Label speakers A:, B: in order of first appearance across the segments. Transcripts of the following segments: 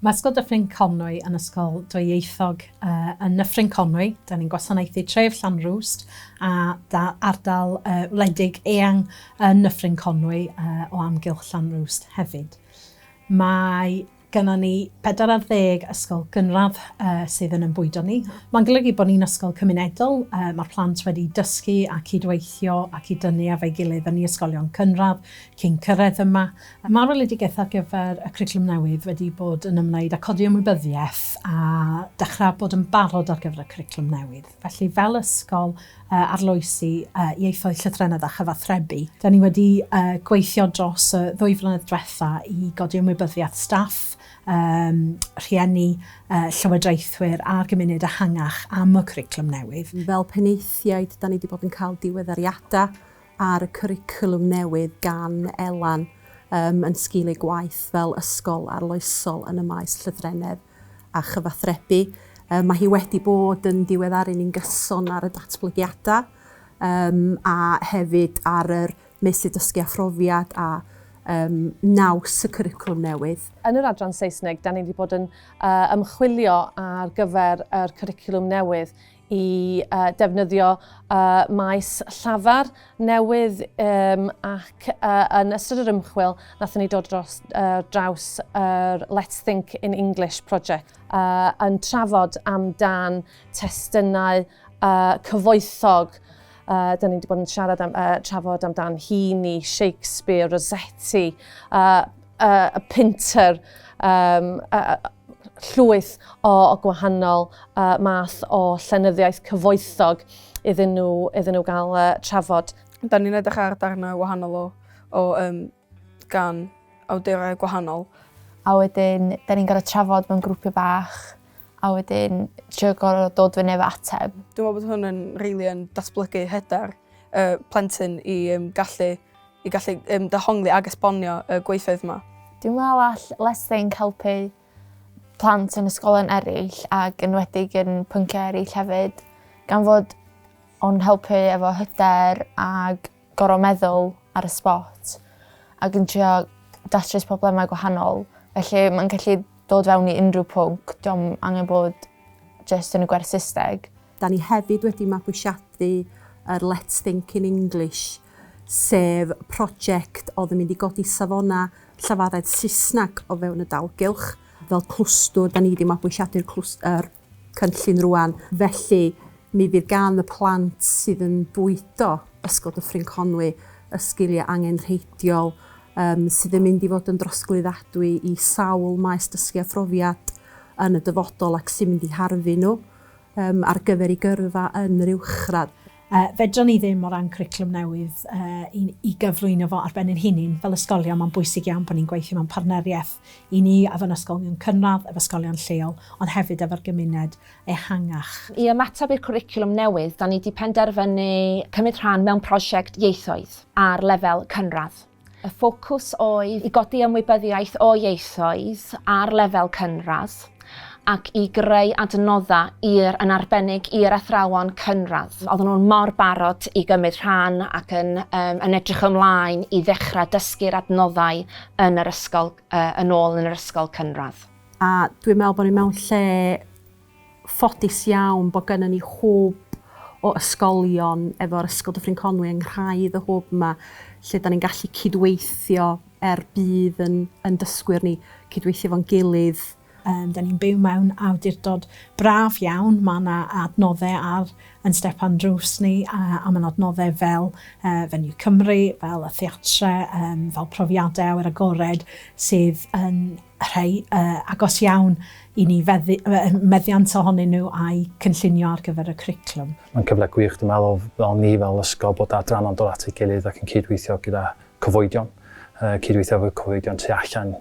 A: Mae Ysgol Dyffryn Conwy yn ysgol dwyieithog. Uh, yn Nyffryn Conwy, da ni'n gwasanaethu tref Llanrwst a da, ardal uh, wledig eang yn Nyffryn Conwy uh, o amgylch Llanrwst hefyd. Mae gyda ni 40 ysgol gynradd uh, sydd yn ymbwydo ni. Mae'n golygu bod ni'n ysgol cymunedol, uh, mae'r plant wedi dysgu a cydweithio ac i dynnu efo'i gilydd yn ei ysgolion cynradd, Cyn cyrraedd yma, mae'r weledigaeth ar gyfer y cwricwlwm newydd wedi bod yn ymwneud â codi ymwybyddiaeth a dechrau bod yn barod ar gyfer y cwricwlwm newydd. Felly, fel ysgol arloesi ieithoedd, llythrennedd a chyfathrebu, da ni wedi gweithio dros y ddwy flynedd diwetha' i godi ymwybyddiaeth staff, rhieni, llywodraethwyr a'r gymuned ehangach am y cwricwlwm newydd. Fel penaethiaid,
B: da ni wedi bod yn cael diweddariadau ar y cwricwlwm newydd gan Elan um, yn sgil ei gwaith fel ysgol arloesol yn y maes llythrennedd a chyfathrebu. Um, mae hi wedi bod yn diweddaru ni'n gyson ar y datblygiadau um, a hefyd ar yr meysydd dysgu a phrofiad a um, naws y cwricwlwm newydd. Yn yr adran Saesneg,
C: da ni wedi bod yn uh, ymchwilio ar gyfer yr cwricwlwm newydd i uh, defnyddio uh, maes llafar newydd um, ac uh, yn ystod yr ymchwil nathon ni dod dros uh, draws yr uh, Let's Think in English project uh, yn trafod amdan testunau uh, cyfoethog Uh, da ni wedi bod yn siarad am, uh, trafod amdan Heaney, Shakespeare, Rossetti, uh, uh, Pinter, um, uh, llwyth o, o gwahanol uh, math o llenyddiaeth cyfoethog iddyn nhw, iddyn nhw gael uh, trafod. Da ni'n edrych ar
D: darnau wahanol o, o um, gan awdurau gwahanol. A wedyn,
E: da ni'n gorau trafod mewn grwpiau bach, a wedyn trio gorau dod fyny efo ateb. Dwi'n meddwl bod hwn yn
D: rili yn datblygu hyder uh, plentyn i um, gallu i gallu um, dehongli ag esbonio y gweithoedd yma. Dwi'n meddwl all
E: Let's Think helpu plant yn ysgolion eraill ac yn wedig yn pynciau eraill hefyd, gan fod o'n helpu efo hyder ag gorau meddwl ar y spot ac yn trio datrys problemau gwahanol. Felly mae'n gallu dod fewn i unrhyw pwnc, diolch angen bod jyst yn y gwerth Saesneg. Da ni hefyd
B: wedi mabwysiadu yr Let's Think in English sef project oedd yn mynd i godi safonau llafaredd Saesneg o fewn y dalgylch. Fel clwstwr, da ni wedi mabwysiadu'r clwst- yr cynllun rŵan, felly mi fydd gan y plant sydd yn bwydo Ysgol Dyffryn Conwy y sgiliau angenrheidiol yym sydd yn mynd i fod yn drosglwyddadwy i sawl maes dysgu a phrofiad yn y dyfodol ac sy'n mynd i harfu nhw yym ar gyfer eu gyrfa yn yr uwchradd. Yy, fedran ni ddim,
A: o ran cwricwlwm newydd, yy, i i gyflwyno fo ar ben ein hunin, fel ysgolion, mae'n bwysig iawn bod ni'n gweithio mewn partneriaeth, i ni, efo'n ysgolion cynradd, efo ysgolion lleol, ond hefyd efo'r gymuned ehangach. I ymateb i'r
F: cwricwlwm newydd, 'dan ni 'di penderfynu cymryd rhan mewn prosiect ieithoedd ar lefel cynradd. Y ffocws oedd i godi ymwybyddiaeth o ieithoedd ar lefel cynradd ac i greu adnoddau i'r, yn arbennig i'r athrawon cynradd. Oedden nhw'n mor barod i gymryd rhan ac yn, um, yn edrych ymlaen i ddechrau dysgu'r adnoddau yn yr ysgol, uh, yn ôl yn yr ysgol cynradd. A dwi'n meddwl
B: bod ni mewn lle ffodus iawn bod gynnon ni hwb o ysgolion efo'r Ysgol Dyffryn Conwy yng nghraidd y hwb 'ma lle 'dan ni'n gallu cydweithio er budd yn yn dysgwyr ni, cydweithio efo'n gilydd. Yym 'dan ni'n byw
A: mewn awdurdod braf iawn, ma' 'na adnodde ar yn step a'n drws ni a a ma'n adnodde fel yy Venue Cymru, fel y theatre, yym fel profiade awyr agored sydd yn rhai agos iawn i ni, meddiant ohonyn nhw a'u cynllunio ar gyfer y cwricwlwm. Mae'n cyfle gwych, dwi'n
G: meddwl, fel ni fel ysgol bod adrannau'n dod at ei gilydd ac yn cydweithio gyda cyfoedion, cydweithio efo cyfoedion tu allan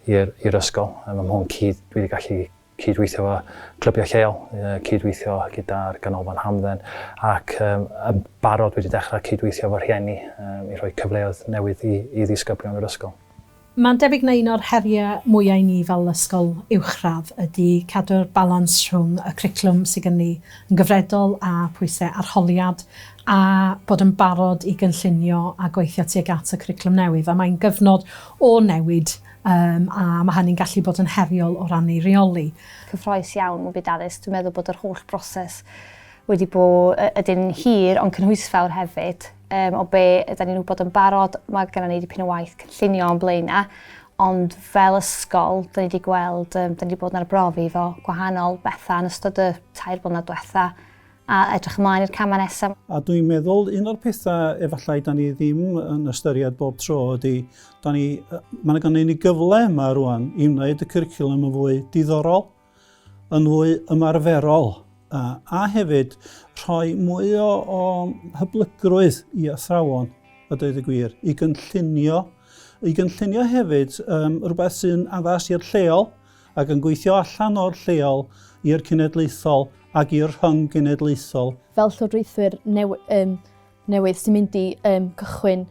G: i'r ysgol. Mae hwn cudd dwi wedi gallu cydweithio efo clybiau lleol, cydweithio gyda'r Ganolfan Hamdden ac um, yn barod wedi dechrau cydweithio efo rhieni um, i rhoi cyfleoedd newydd i, i ddisgyblion yr ysgol. Mae'n debyg na
A: un o'r heriau mwyaf i ni fel ysgol uwchradd ydy cadw'r balans rhwng y cwricwlwm sydd gen ni yn gyfredol a phwysau arholiad a bod yn barod i gynllunio a gweithio tuag at y cwricwlwm newydd a mae'n gyfnod o newid Yym, a mae hynny'n gallu bod yn heriol o ran ei reoli. Cyffroes iawn
H: mewn byd addysg. Dwi'n meddwl bod yr holl broses wedi bod ydyn hir ond cynhwysfawr hefyd. Um, o be ydyn ni'n wybod yn barod, mae gennym ni dipyn o waith cynllunio o'n blaenau, ond fel ysgol, dyn ni wedi gweld, um, dyn ni wedi bod yn arbrofi fo gwahanol bethau yn ystod y tair blynedd diwetha, A edrych ymlaen i'r camau nesaf. A dwi'n meddwl
I: un o'r pethau efallai da ni ddim yn ystyried bob tro ydy, da ni, mae yna gynnu ni gyfle yma rwan i wneud y cwricwlwm yn fwy diddorol, yn fwy ymarferol, a, a hefyd rhoi mwy o, o hyblygrwydd i athrawon, a dweud y gwir, i gynllunio, i gynllunio hefyd um, rhywbeth sy'n addas i'r lleol, ac yn gweithio allan o'r lleol i'r cenedlaethol ac i'r rhyng-genedlaethol. Fel llywodraethwyr
J: newydd sy'n mynd i gychwyn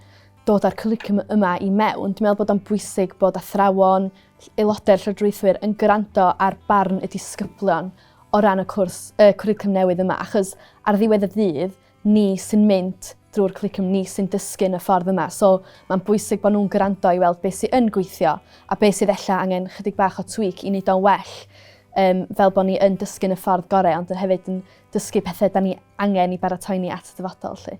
J: dod â'r cwricwlwm yma i mewn, dwi'n meddwl bod o'n bwysig bod athrawon, aelodau'r llywodraethwyr yn gwrando ar barn y disgyblion o ran y cwrs, y cwricwlwm newydd yma, achos ar ddiwedd y dydd, ni sy'n mynd drwy'r cwricwlwm, ni sy'n dysgu yn y ffordd yma. So mae'n bwysig bod nhw'n gwrando i weld beth sy'n yn gweithio a beth sydd ella angen chydig bach o tweak i wneud o'n well um, fel bod ni yn dysgu yn y ffordd gorau ond yn hefyd yn dysgu pethau da ni angen i baratoi ni at y dyfodol. Lle.